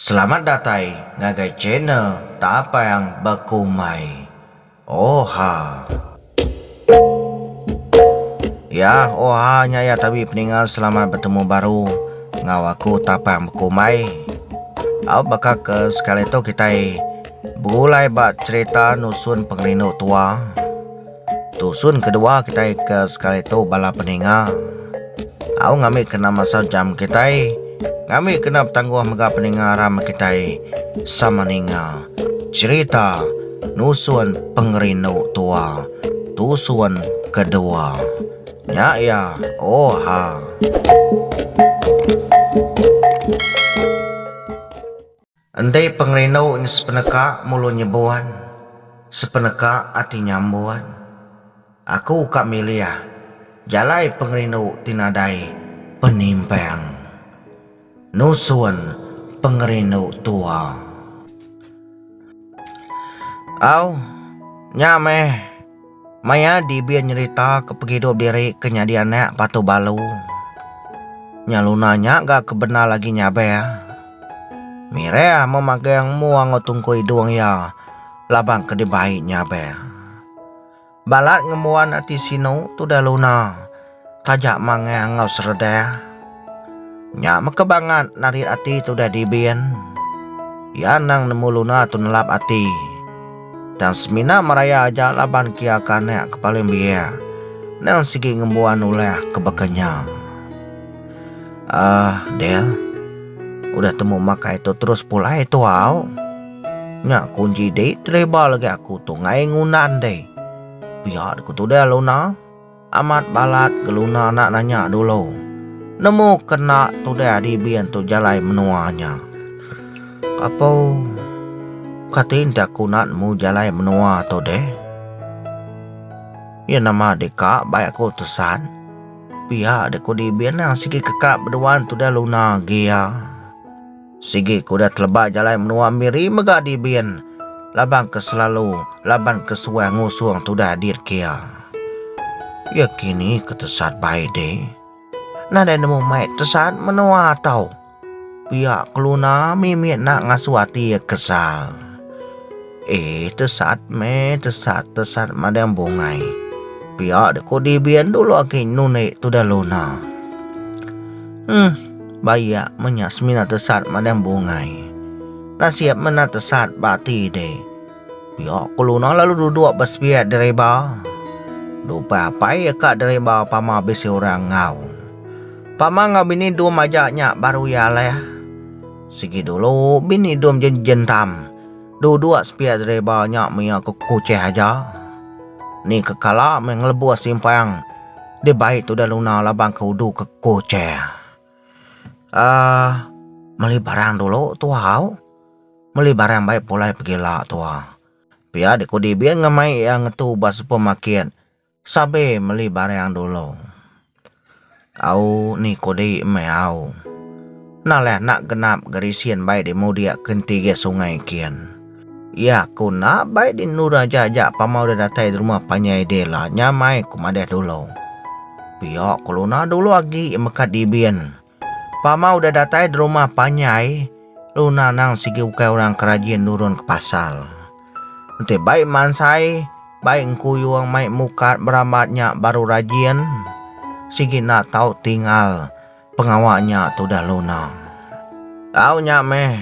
Selamat datai ngagai channel Tapang Bekumbai. Oha. Yah oha nya ya tabi peninga selamat betemu baru ngau aku tapang bekumbai. Au baka ke sekali tu kitai begulai ba cerita nusun pengerindu tua. Tusun kedua kitai ke sekali tu bala peninga. Au ngambi kena masa jam kitai ngambi kena betangguh mega peninga rama kitai sama ninga cherita nusun pengerindu tua. Tusun kedua. Nya iya. Oha. Enti pengerindu nya sepeneka mulu nyebun, sepeneka ati nyambun, aku ka milih jalai pengerindu ti nadai penimpang nusun pengerindu tua. Au, nya meh. Maya Dibin nyerita ke pengidup diri ke nyadi anak Batu Balu, nya Luna nya ga kebendar agi nyaber. Mireh amu magang embu ango tungku idung iya laban ke dibai nyaber. Balat ngembuan ati sinu tudah Luna. Taja mangai enggau seredah. Nya meka bangat narit ati tu udah dibin. Iya endang nemu Luna tu nelap ati. Tang semina meraya aja laban kia ke anak ke paling biak endang sigi ngembuan ulah ke baka nya. Aah Del. Udah temu makai tu terus pulai tu au. Nya kunji dei tereba lagi aku tu ngai ngunan dei. Pia ku tudai Luna. Amat balat geluna enda nanya dulu. Nemu kena tudah dibi antu jalai menua nya. Apo kati enti aku enda nemu jalai menua tu deh. Iya nama deka bai aku tesan. Pia deh ku dibi nang sigi keka bedua tudah luna agi iya. Sigi ke udah teleba jalai menua Miri mega dibin laban ke selalu laban ke suah ngusung tudah dit kia. Iya kini ke tesat bai de. Nadai nemu mai tesat menua tau. Pia keluna mimit nak ngasuh ati iya kesal. Eh tesat meh tesat tesat madang bungai. Pia deko dibian dulu aki nun ai tudah luna. Hmm baya menya semina tesat madang bungai. Nasib mena tesat ba ati de. Pia ko luna lalu duduk ba sepiak dereba. Dupai apai ya ka dereba pama bisi orang ngau. Pama ngau bini dum aja nya baru ya leh. Sigi dulu bini dum jen jentam. Dua-dua spear driver nya mia ke Kucheh aja. Ni ke kala meh ngelebus simpang di bai tudah Luna laban ke udu ke Kucheh. Uh meli barang dulu tuah au. Meli barang bai pulai pegila tuah. Pia dikudi Bin ngemai iya ngetu ba supermarket. Sabe meli barang dulu. Au ni kudi meh au. Nah leh anak genap Gerisin bai di mudik ke enti gih sungai kin. Iya ku enda bai di endur aja aja pama udah datai di rumah panjai dih lah nyamai ku madah dulu. Pia keluna dulu agi meka dibin. Pama udah datai derumah panjai, Luna nang sigi ukai orang ke rajin nurun ke pasar. Enti bai mansai, bai engkuyung mai mukat berambat nya baru rajin, sigi enda tau tinggal pengawa nya tudah Luna. Tau nya meh.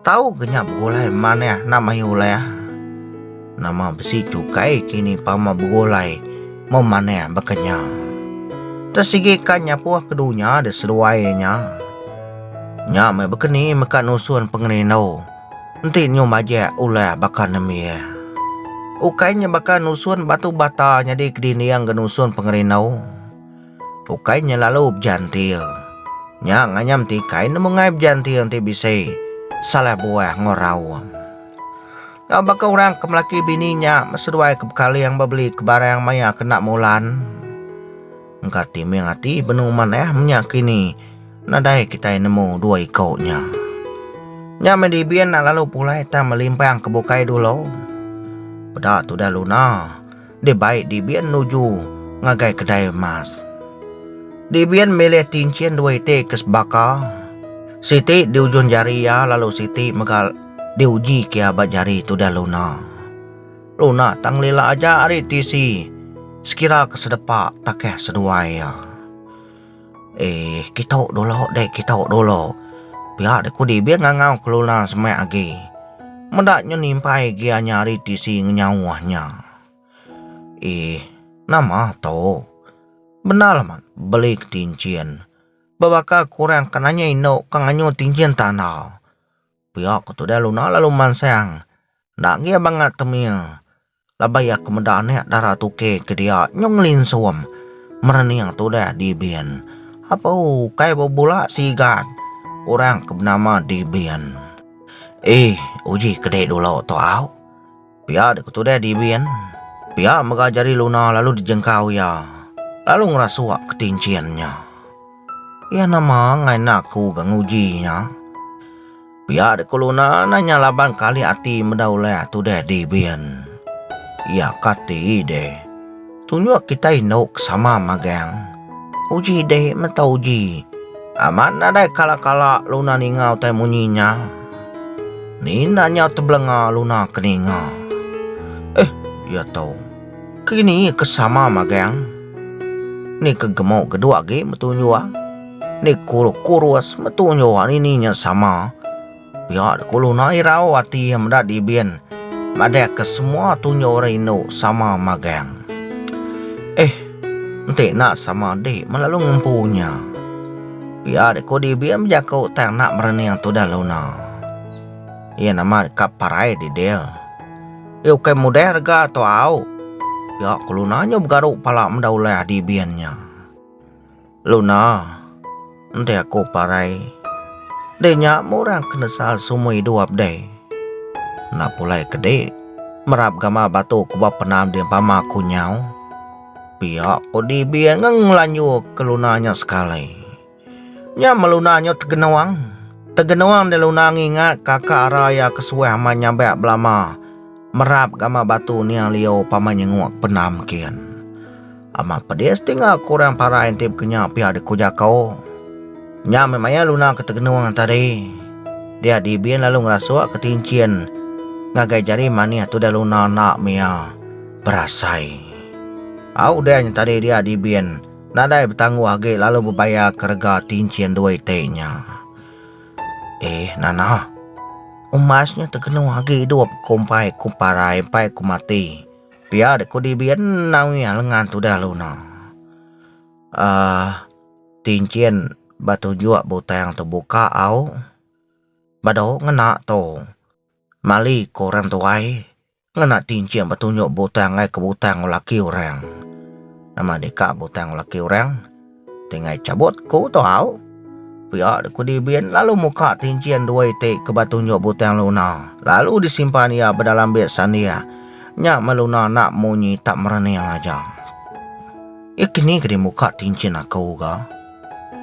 Tau ke nya begulai manah nama iya ulai ah. Nama besi chukai kini pama begulai memanah baka nya. Tesigi ka nyapuh ke dunya de seduai nya. Nya meh bekeni meka nusun pengerindu enti nyu majak ulai baka nembiak. Ukai nya baka nusun batu bata nyadi kedinding ke nusun pengerindu. ukai nya lalu bejantil. Nya nganyam ti kai nemu ngai bejantil enti bisi salah buah enggau raum. Enggau baka orang ke melaki bini nya beseduai ke bekaling ba beli ke barang maya ke enda mulan. Engka timing ati benung manah menya kini nadai kitai nemu dua iko nya. Nya meh dibi enda lalu pulai tang melimpang ke bukai dulu. Peda tudah Luna. deh bai Dibin nuju ngagai kedai emas. Dibin milih tinchin dua iti ke sebaka, siti di ujun jari iya lalu siti mega diujika iya ba jari tudah Luna. Luna tang lila aja ari tisi sekira ke sedepa takah seduai iya. Eh, kitu dulu deh, kitu dulu. Pia deh ku Dibin ngangau kelula semak agi. Meda nyu nimpai agi nya hari tisi ngenyauh nya. Eh, nama tu? Bendar amat beli ke tinchin. Bebaka kurang ke nanya indu ke nganyu tinchin tanda. Pia ketu deh Luna lalu mansang. Enda agi banga temie. Laban iya ke meda anak dara tuke ke dia nyau ngelinsum merening tudah Dibin. Ape ukai bebula sigat orang ke benama Dibin. Ih, uji ke dek dulu tu au. Pia dek tudah Dibin. Pia mega jari Luna lalu dijengkau iya lalu ngerasuk ke tinchin nya. Iya nama ngai enda aku ga nguji nya. Pia dek ku Luna nah nya laban kali ati meda ulih atu deh di bin. Iya kati deh. Tunjuk kita indu ke sama magang. Uji deh menta uji. Amat nadai kala-kala Luna ninga utai munyi nya. Nina nyau tebelenga Luna ke ninga. Eh, iya tu. Kini ke sama magang. Ni ke gemuk geduk agi metunjuk ah. Ni kurus kurus metu nyoa nini nya sama. Pia dek ulu na irau ati iya meda dibin madah ke semua tunyo orang indu sama magang. Eh enti enda sama dik melalu ngempu nya. Pia dek ko dibin bejaku tang enda merening tudah luna. Iya nama deka parai didil. Iya ukai mudah rega tu au. Pia ko luna nyo begaru pala meda ulah dibin nya. Luna, enti aku parai, deh nya murang ke nesal sumui duap deh. Enda pulai ke dek, merap gamal batu ke ba penam di empama aku nyau. Pia ko Dibi ngeng ngelanju ke Luna nya sekali. Nya meh Luna nyo tegenong, tegenong deh Luna ngingat kaka ara iya ke suah amat nyabak belama merap gamal batu niang liau pama nyengok penam kian. Amat pedis ti enggau aku orang parai enti bekenya pia de ku Jako. Nya meh maya Luna ke tegenung tadi. Dia Dibin lalu ngerasukka tinchin ngagai jari manih tudah Luna enda mia berasai. Au udah nya tadi dia Dibin nadai betangguh agi lalu bebayarka rega tinchin dua iti nya. Eh Nana. Umas nya tegenung agi idup ku empai ku parai empai ku mati. Pia dek kudi bian enau iya lengan tudah lu no. Um tinchin ba tunjuk butang tu buka au bado ngena tu mali ko orang tuai ngena tinchin ba tunjuk butang ai ke butang laki orang. Nama deka butang laki orang. Ti ngai chabut ku tu au. Pia de ku Dibin lalu muka tinchin dua iti ke ba tunjuk butang Luna lalu disimpan iya ba dalam beg sandia. Nya meh Luna enda munyi tak merening aja. Iya ke ni ke deh muka tinchin aku ga.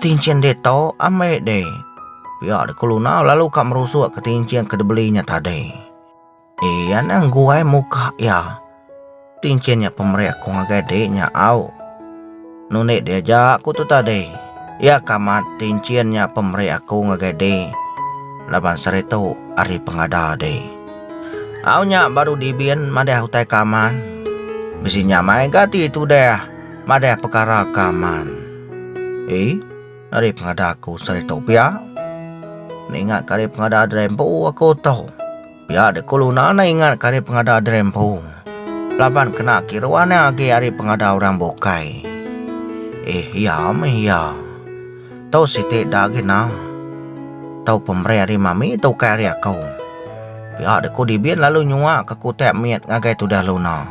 Tinchin deh tu ambai deh. Pia de ku Luna lalu ka merusuk ke tinchin ke dibeli nya tadi. Ii anang guai muka iya. Ti enchin nya pemeri aku ngagai dik nya au. Nunik dia aja aku tu tadi. Iya ka amat ti enchin nya pemeri aku ngagai dik. Laban seri tu ari pengada dik. Au nya baru dibin madah utai ka aman. Bisi nya mai ga ti tudah madah pekara ka aman. Ii ari pengada aku seri tu pia. Ninga ka ari pengada diri empu aku tu. Pia dek kulu nanai ingat ke ari pengada diri empu laban kena kiru anang agi ari pengada orang bukai. Eh iya meh iya. Tau siti da agi nah. Tau pemeri ari mami tu ukai ari aku. Pia dek ku Dibin lalu nyua ke kutak mit ngagai tudah Luna.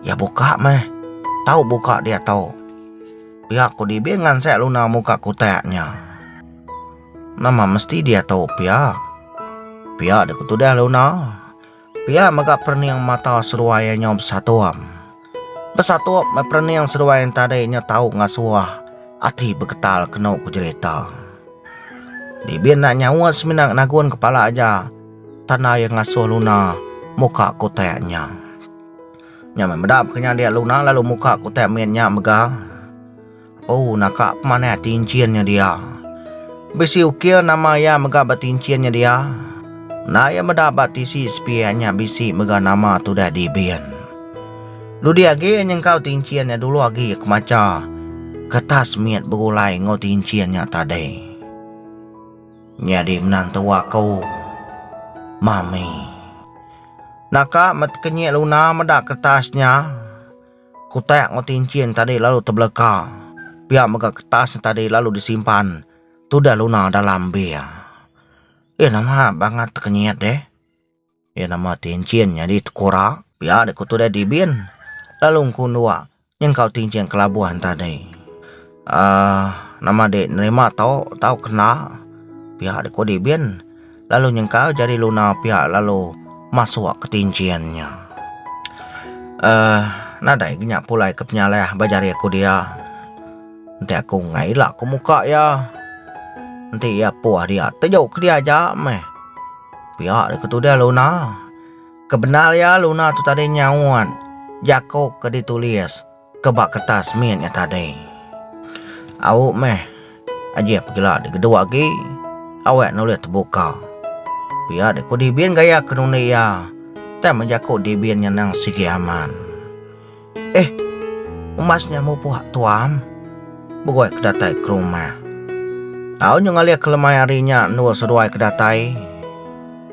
Iya buka meh. Tau buka diatu. Pia ku Dibin ngansak Luna muka kutak nya. Nama mesti dia tu pia? Pia dek tudah Luna. Pia mega perening mata seruai iya nyau besatup. Besatup meh perening seruai iya tadi nyau tau ngasuh ati beketal kenu ku jerita. Dibi enda nyaut semina nagun kepala aja tanda iya ngasuh Luna muka kutak nya. Nya meh meda baka nya dia Luna lalu muka kutak mit nya mega. Ooh naka pemanah tinchin nya dia. Bisi ukir nama iya mega ba tinchin nya dia. Enda iya meda ba tisi sepiak nya bisi mega nama tudah dibin. Dudi agi iya nyengkau tinchin nya dulu agi iya kemacha kertas mit begulai enggau tinchin nya tadi. Nyadi menang tua ko. Mami. Naka met kenyik Luna meda kertas nya. Kutak enggau tinchin tadi lalu tebeleka. Pia mega kertas tadi lalu disimpan tudah luna dalam bir. Eh nama bangat tekenyit deh. Eh nama tinchin nyadi tekura. Pia deh ku tudah Dibin lalu engku endur nyengkau tinchin kelabuh tadi. Aaa nama dek nerima tau tau kena pihak dek kudi bin lalu nyengkal jadi luna pihak lalu masuk ke tinjin nya aaa nadai ke nya pulai ke penyalai ba jari aku dia ntai aku ngai ila ku muka iya nti iya puh dia tejo ke dia aja meh pia dek ke tudah luna ke bendar iya luna tu tadi nyaut jako ke ditulis. Ke ba kertas mit nya tadi. Au meh. Ajih pegila dek gedua agi. Awek nulih tebuka. Pia dek ku Dibin gaya ke nundi iya. Tang meh jaku Dibin nya nang sigi aman. Eh. Umas nya mupuh tuam. Begoi ke datai ke rumah. Au nyu ngalih ke lemai hari nya endur seduai ke datai.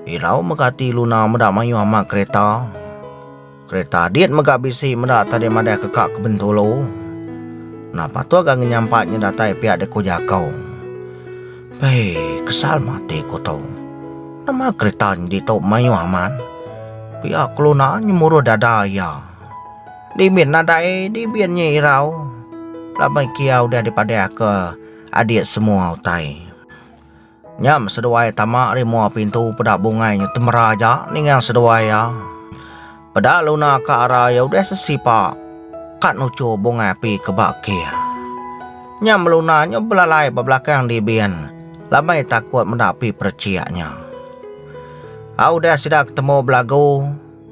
Irau mega ati Luna meda mayuh ama kereta. Kereta dit mega bisi meda tadi madah ke ka ke Bentulu. Nah patuh ga ngenyampat nya datai pia deh ku Jakau. Pei kesal mati ku tu. Nama kereta nya ditu mayuh amat. Pia keluna nyemuruh dada iya. Dimin nadai dibin nya irau. Laban ke iya udah dipadah ke adik semua utai. Nyam seduai tama ari mua pintu peda bungai nyu temera aja ninga seduai iya. Peda Luna ka ara iya udah sesipa ka nuchu bungai api ke ba kir. Nyam Luna nyu belalai ba belakang Dibin laban takut meda api perechik nya. A udah sida ketemu belagu,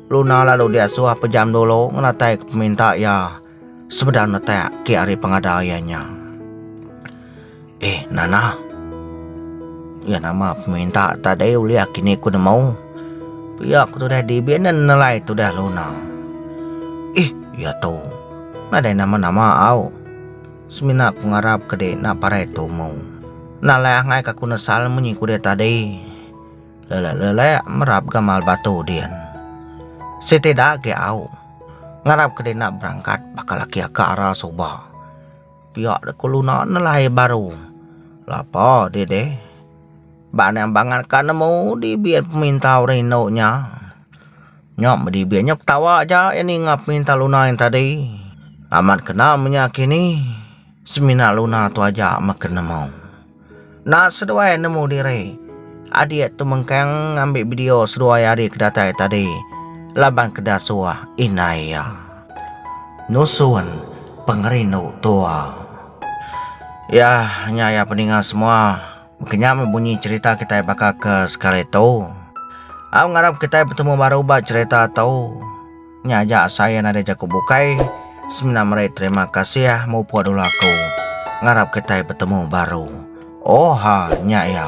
Luna lalu diasuh pejam dulu ngenatai ke peminta iya. sebedau netak ke ari pengada iya nya. Eh, Nana. Iya nama peminta tadi ulih kini ku nemu. Pia ku tudah dibi enda nelai tudah Luna. Eh, iya tu. Nadai nama-nama au. Semina ku ngarap ke dek enda parai tumu. Enda alai angai ka ku nesal munyi ku dia tadi. Lelek-lelek merap gamal batu din. Siti da agi au. Ngarap ke dina berangkat baka laki aka ara suba. Pia de keluna nelai baru. Lapa dih deh. Ba niang bangat ka nemu di bian peminta orang indu nya. Nya medi bian nya ketawa aja iya ninga peminta luna yang tadi. Amat kena menya kini semina luna tu aja meken nemu. Enda seduai nemu diri. Adik tu mengkang ngambi video seduai ari ke datai tadi laban ke dasuh indai iya. Nusun pengerindu tua. Iya nya iya peninga semua. Maka nya meh bunyi cerita kitai baka ke sekali tu. Au ngarap kitai betemu baru ba cerita tu. Nya aja saya nadai jaku bukai semina meri terima kasih mupuk dulu aku. Ngarap kitai betemu baru. Oha nya iya.